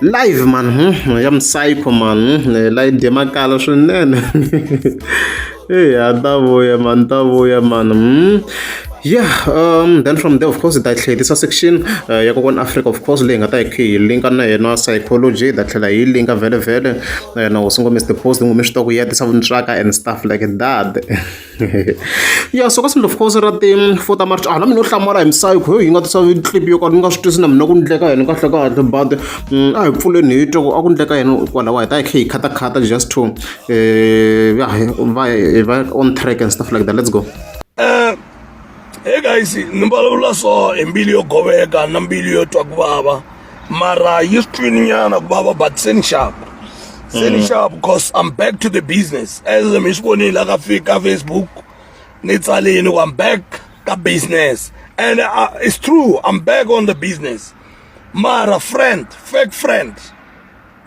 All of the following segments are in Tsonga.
live man hmm, ya msaipo man hmm, eh, live demakala swinene hey a ta vuya man ta vuya man hmm. yeah um then from there of course ta tlhelisa section uh, ya kokwana africa of course leyi nga ta hi hi linka na yena psychology ta tlhela hi linka vele vele na hosi ngomese the post ngome swi ta ku ya tisa vuntswaka and stuff like that ya so ka swilo of course ra ti four ta march ala mina u hlamala hi misayikho yo yi nga tisa clip yo karhi ni nga swi twisi na mina ku ndleka yena kahle kahle but mm, a hi pfuleni hi twa ku a ku ndleka yena kwalaho hi ta hi khe hi khatakhata just to um va va on track and stuff like that let's go eh, hey guys ni vulavula so hi mbilu yo goveka na mbilu yo twa ku vava mara yi swi twini nyana ku va va but se ni xava se ni xava because i'm back to the business as mi swi vonile la ka fi- ka facebook ni tsalini ku i'm back ka business and uh, it's true i'm back on the business mara friend fake friend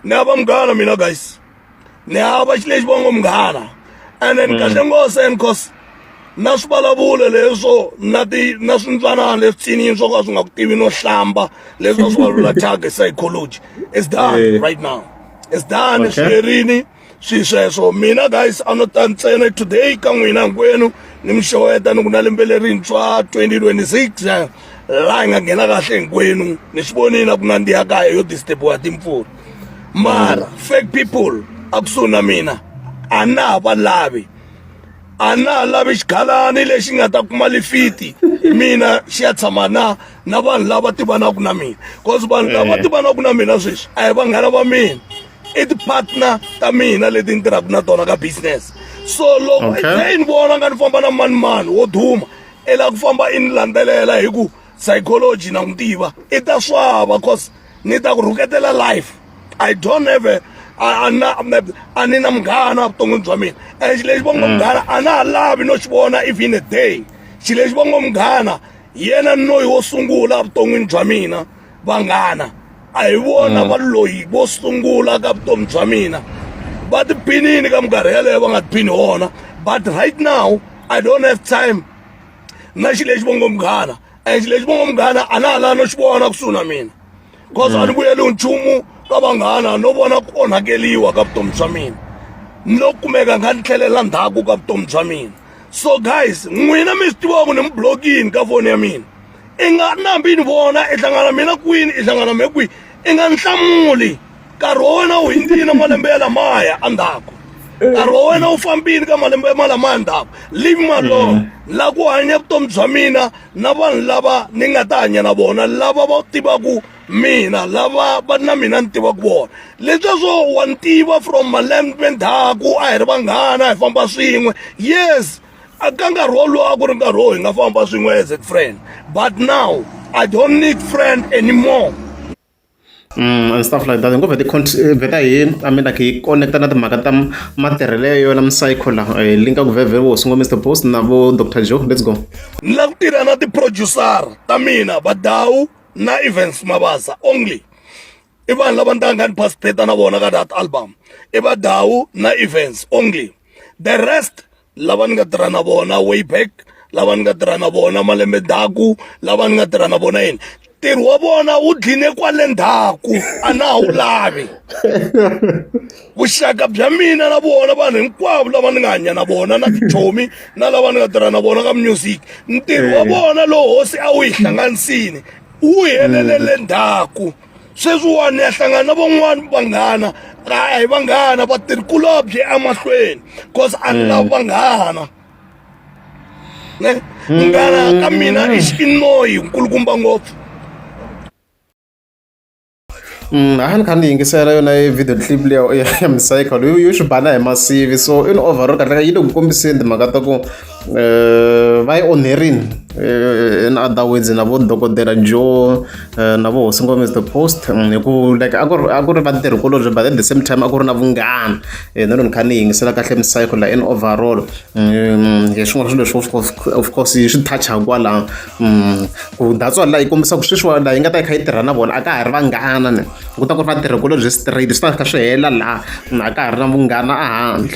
ni hava munghana mina guys ni hava xi lexi vongo munghana ene ni kahle mm. ngose and cause na swivulavulo leswo na ti na swintsanana leswi tsiniyi swo ka swi nga ku tivi no hlamba leswi va swi vulavula tag psychology is done eh. right now is done swi herini swi sweswo mina guys a no ta ntsena today ka n'wina hinkwenu ni mi xeweta ni ku na lembe lerintshwa 2026 laha hi nga nghena kahle hinkwenu ni swi vonile na ku nandziha kaya yo disturbiwa timpfula mara fake people a kusuhi na mina a na ha va lavi a na ha lavi xigalani lexi nga ta kuma lifiti mina xi ya tshama na na vanhu lava tivanaka na mina cause vanhu lava eh. tivanaka na mina sweswi a hi vanghana va mina i ti-partner ta mina leti ni tirhaka na tona ka business so loko okay. se i ni vona nga ni famba na mani mani wo duma i lava ku famba i ni landzelela hi ku psychology na n'wi tiva i ta swava cause ni ta ku rhuketela life i don't have a a na a ni na munghana vuton'wini bya mina and xilo lexi vongo munghana a na ha lavi no xi vona if in a day xilo lexi vongo munghana yena noyi wo sungula vuton'wini bya mina vanghana a hi vona va loyi vo sungula ka vutomi bya mina va ti binini ka minkarhi yaleyo va nga ti bini wona but right now i don't have time na xilo lexi vongo munghana and lexi va nga munghana a na ha la no xi vona kusuhi na mina because a ni vuyeliwi nchumu ka vanghana no vona ku onhakeliwa ka vutomi bya mina no kumeka nga ni tlhelela ndzhaku ka vutomi bya mina so guys n'wina mi swi tivaku ni mi blokini ka foni ya mina i nga nambi ni vona i hlangana mina kwini i hlangana me kwihi i nga ni hlamuli nkarhi wa wena wu hindzile malembe ya lamaya endzhaku nkarhi wa wena wu fambile ka malembe ma lamaya ndzhaku leave me alone mm. la ku hanya vutomi bya mina na vanhu lava ni nga ta hanya na vona lava va tivaku mina lava va na mina ni tivaku vona lesweswo wa ni tiva from malembe ndzhaku a hi ri vanghana hi famba swin'we yes ka nkarhi wolowo a ku ri nkarhi wo hi nga famba swin'we as a friend but now i don't need friend anymore and stuff like that hi ngo vheta hi vheta hi I mean like hi connect na timhaka ta matirhelo ya yona psycho la hi linka ku vhevhe vo sungula Mr Boss na vo Dr Joe let's go ni la ku tirha na ti-producer ta mina vadawu na events mabasa only i vanhu lava ndanga ni participate na vona ka that album i vadawu na events only the rest lava ni nga tirha na vona way back lava ni nga tirha na vona malembe ndzhaku lava ni nga tirha na vona yini ntirho wa vona wu dline kwale ndzhaku a na ha wu lavi vuxaka bya mina na vona vanhu hinkwavo lava ni nga hanya na vona na tichomi na lava ni nga tirha na vona ka music ntirho wa eh. vona lowu hosi a wu yi hlanganisini wu helelele ndzhaku sweswiwani ni ya hlangana na van'wani vanghana a hi vanghana vatirhi kulobye emahlweni cause a ni lavi vanghana ne munghana ka mina i xinoyi nkulukumba ngopfu Mm, a ni kha ni yingisela yona e video clip leya ya micycle yo yo xi bana hi masivi so in overall kahleka yi le ku kombiseni timhaka ta ku vha ye onerini in other words na vo dokodela joe na vo hosi ngome is the post hi ku like a ku ri a ku ri vatirhi kulobye but at the same time a ku ri na vunghana ni ri ni kha ni yingisela kahle misayiko la in overall hi swin'wana swilo leswi of course yi swi touch-a kwalano ku that's why la yi kombisa ku sweswiwani laha yi nga ta yi kha yi tirha na vona a ka ha ri vanghana ni ku ta ku ri vatirhi kulobye straight swi ta kha swi hela laha a ka ha ri na vunghana a handle.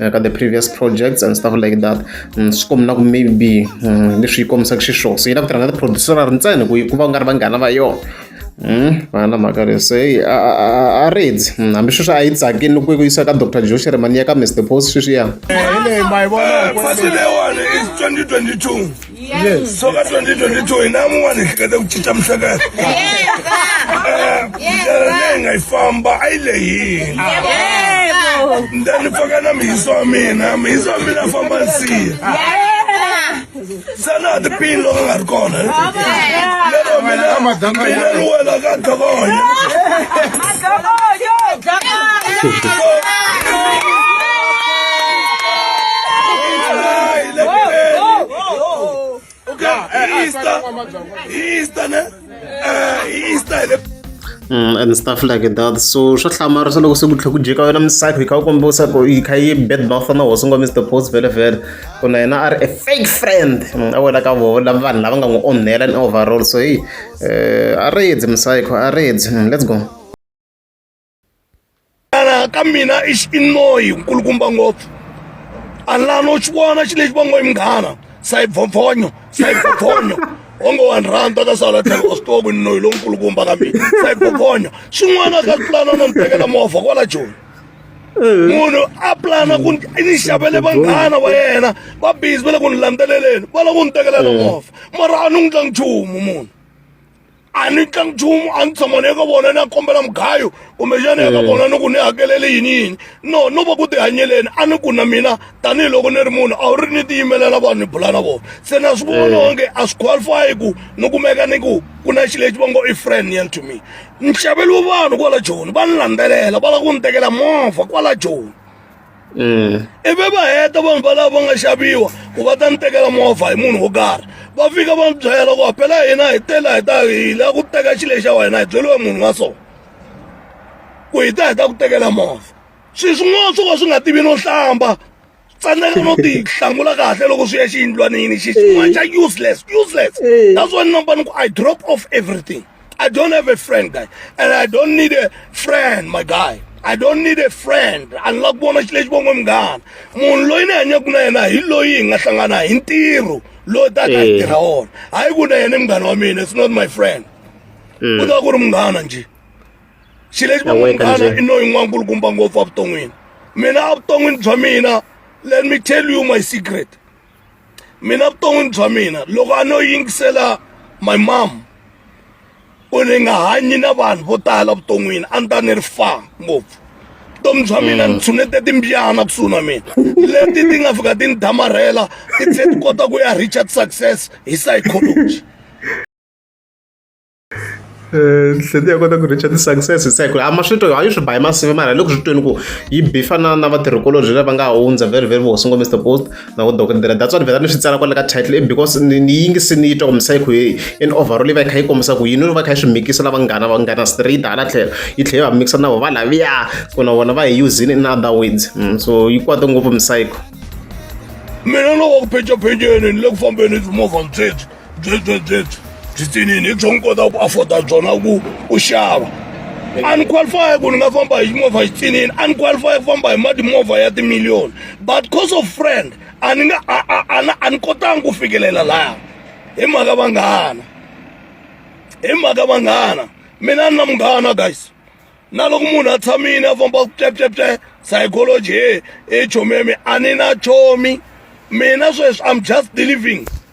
Eh, ka the previous projects and stuff like that mm, swi kombina ku maybe mm, leswi yi kombisaka xiswona so yi lava ku tirha na tiproducer ri ntsena ku ku va ku nga ri vanghana va yona mm, va na mhaka leswi a redzi hambi sweswi a yi tsakini ku yisa ka dr josh remani ya ka mr post sweswiya eh, Yes. So ka 2022 hina mun'wana hi hleketa ku cinca mihleketa. Eh, ndlela leyi nga yi famba a yi lehile. Ndza ni pfaka na mihiso wa mina, mihiso wa mina famba nsiya. Sana ti pin loko nga ri kona. Lero mina, mina ni wela ka dokonya. Mm, and stuff like that so swa hlamara swa loko se ku tlhe ku jeka wena misaki yi kha u komba usaku yi kha yi bad mouth na hosi ngwa mr post vele vele ku na yena a ri a fake friend mm, a wela ka vona vanhu lava nga n'wi onhela ni overall so hi Eh, a ri yedzi musayikho a ri yedzi mm, let's go ka mina i xinoyi nkulukumba ngopfu a lano xi vona xi lexi va ngo i munghana sayibvovhonyo sayibvovhonyo onge wa ni rhandza ka sala tlhelo wa swi tiva ku ni noyi lonkulukumba ka mina sayibvovhonyo xin'wana ka tlulana na ni tekela movha kwala joni munhu a plana ku ni xavele vanghana wa yena va busy va le ku ni landzeleleni va la ku ni tekelela movha mara a ni n'wi tlangi nchumu munhu a ni tlangi nchumu a ni tshama ni eka vona ni ya kombela mugayo kumbexana eka mm. vona ni ku ni hakelele yini yini no no va ku tihanyeleni a ni ku na mina tanihiloko ni ri munhu a wu ri ni tiyimelela vanhu ni bula na vona se na swi vona mm. onge a swi qualify ku ni kumeka ni ku ku na xi lexi va ngo i friend yan to me ni xaveliwe vanhu kwala joni va ni landzelela va lava ku ni tekela movha kwala joni Eh, ivi va heta vanhu valava va nga xaviwa ku va ta ni tekela movha hi munhu wo karhi va fika va ni byela ku phela hina hi tela hi ta hi la ku teka xile xa wena hi byeliwe munhu wa so ku hi ta hi ta ku tekela movha swi swin'wana swo ka swi nga tivi no hlamba tsandzela no ti hlangula kahle loko swi ya xiyindlwanini xi xin'wana xa useless useless that's why number ni ku i drop off everything i don't have a friend guy and i don't need a friend my guy i don't need a friend a ni la ku vona xi lexi vongo munghana munhu loyi ni hanyaka na yena hi loyi hi nga hlangana hi ntirho loyi taka hi tirha wona hayi ku na yena i munghana wa mina it's not my friend ku ta ku ri munghana njhe xilexi va munghana i noyi n'wana nkulukumba ngopfu evuton'wini mina evuton'wini bya mina let me tell you my secret mina vuton'wini bya mina loko a no yingisela my mom ku ni nga hanyi na vanhu vo tala vuton'wini a ni ta ni ri fa ngopfu vutomi bya mina ni mm. tshunete timbyana kusuhi na mina leti ti nga fika ti ni damarhela ti tlhe ti kota ku ya richard success hi psychology Nsimu ya kota ku reach-a ti-success se ku a ma swi twi a yi swi ba hi masimu mara hi le ku swi tweni ku yi beef-a na na vatirhikulobye lava nga hundza very very vo sungula Mister Post na vo dokodela that's why ni vhela ni swi tsala kwale ka title i because ni ni yingise ni yi twa ku misava yi ku heyi in overall yi va yi kha yi kombisa ku yini yi va yi kha yi swi mikisa na vanghana vanghana straight hala tlhelo yi tlhela yi va mikisa na vona va lavaya ku na vona va hi using in other words so yi kwata ngopfu . Mina ni le ku phencaphenceni ni le ku fambeni hi timovha ni sweswi. byebyo byebyo byitsinini hi byona kota ku afforda byona ku u xava a ni qualify ku ni nga famba hi movha xitsinini a ni qualify ku famba hi mati movha ya timiliyoni but cause of friend a ni nga a ni kotanga ku fikelela laha hi mhaka vanghana hi mhaka vanghana mina ni na munghana guys na loko munhu a tshamile a famba ku pleplepye psychology he hi chomi ya mi a ni na chomi mina sweswi i'm just deliving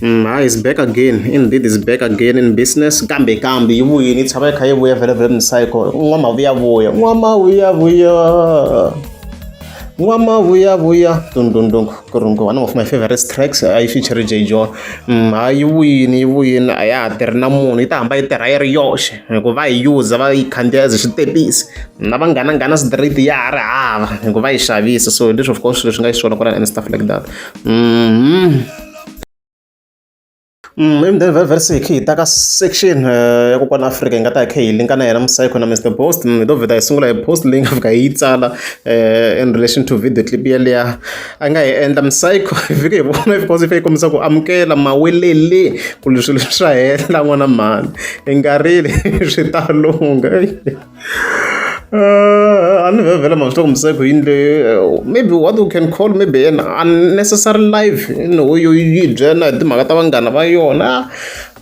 Mm, hi is back again indeed is back again in business kambe kambe yi vuyini yi tshama yi kha yi vuya vhele vhele mcycle n'wamavuyavuya n'wamavuyavuya n'wamavuyavuya dundundung kurungu one of my favorite tracks a yi feature j john mm, ha yi vuyini yi vuyini a ya ha tirhi na munhu yi ta hamba yi tirha yi ri yoxe hikuva va yi user va yi khandziya as switepisi na va nghana nghana street ya ha ri hava hikuva yi xavisa so leswi of course leswi nga yi swona kwalani and stuff like that mm -hmm. verse hi kha hi ta ka section ya kokwana Afrika hi nga ta hi kha hi linka na yena musayikho na Mr Boast hi to vheta hi sungula hi post leyi nga fika hi yi tsala in relation to video clip yeleya a nga hi endla musayikho hi fike hi vona because ife yi kombisa ku amukela mawelele ku ri swilo swa hela n'wana mhani hi nga rili swi ta lungha Uh, anivevela manje lokho msekho yini le uh, maybe what you can call maybe an unnecessary life you know yo yi byela hi timhaka ta vanghana va yona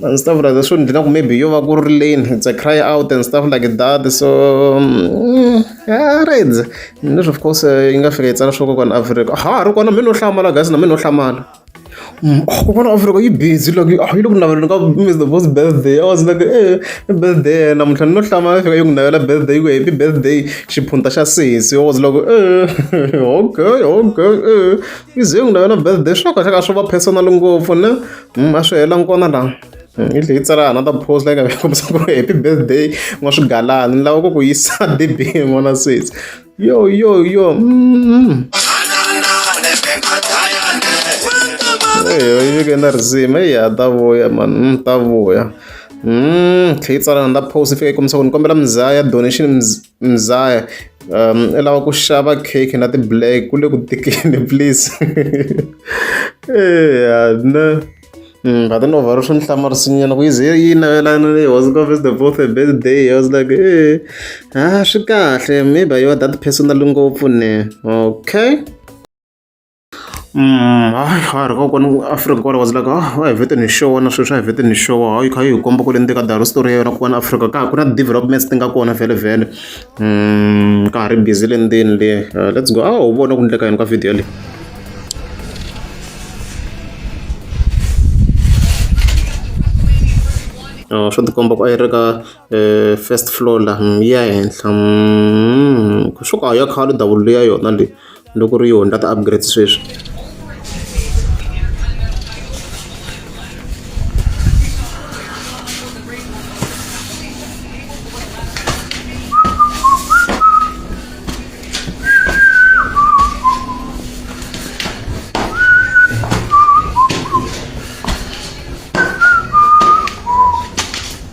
and stuff like that so ni dlina ku maybe yo va ku ri lane it's a cry out and stuff like that so mm, yeah, reds leswi of course uh, yi nga fika yi tsala swo kokwana afrika ha ri kona mi no hlamala gasi na mi no hlamala Mm, oh, kokwana offer loko yi busy loko yi oh, yi le ku naveleni ka miss the boss birthday i was like eh i birthday namuntlha ni lo hlama fika yi ku navela birthday yi ku happy birthday xiphunta xa sesi i was like eh okay okay eh yi ze yi ku navela birthday swo kahle ka swo va personal ngopfu ne mm, a swi hela nkona laha mm, yi tlhe yi tsala another post like kombisa ku ri happy birthday n'wa swigalani ni lava ku ku yisa debini n'wana sesi Yo, yo, yo. Mm. Eyo, yeke na risimu eyi ha ta vuya mani mm, ta vuya mm, tlhe yi tsala na ta post fika yi kombisa ku ni kombela mzaya donation mzaya um i lava ku xava cake na ti-black ku le ku tikeni please eya ne Mm, but then over rushon hlamarisinyana kuyize yi navelana leyi was covis the both a birthday i was like e a swi kahle maybe yo that personal ngopfu ne okay mm, hayi ha ri kokwana afrika kwala was like ah wa hi vete ni xona sweswi swa hi vete ni xona hayi kha yi hi komba ku le ndzeni ka daro story ya yona kokwana afrika ka ha ku na developments ti nga kona vhele vhele ka ha ri busy le ndzeni le let's go a wu vona ku endleka yini ka video leyi swo tikomba ku a yi ri ka first floor la yi ya henhla swo ku a ya khale davula ya yona leyi loko ri yona ka ti-upgrade sweswi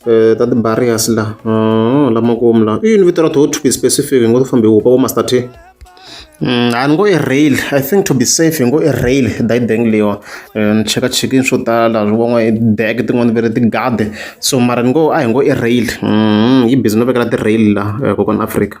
Eh, ta ti-barriers la ah, lama komu la i yini vito ra to to be specific hi ngo to fambe hupa vo master t mm, a ni ngo i rail i think to be safe hi ngo i rail dayi bank leyiwa eh, ni cheka chekini swo tala van'wa i bag tin'wana ve ri tigade so mara ni ngo a hi ngo i rail mm, yi busy no vekela ti-rail la eh, kokwana afrika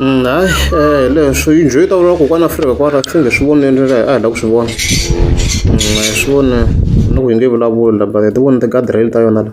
Mm, hayi eh leswo yi njho yi ta vula kokwana afrika kwara swi nge swi voneni a hi lava ku swi vona mm, a hi swi voni loko yi nge vulavuli la but hi ti voni ti-gadireli ta yona la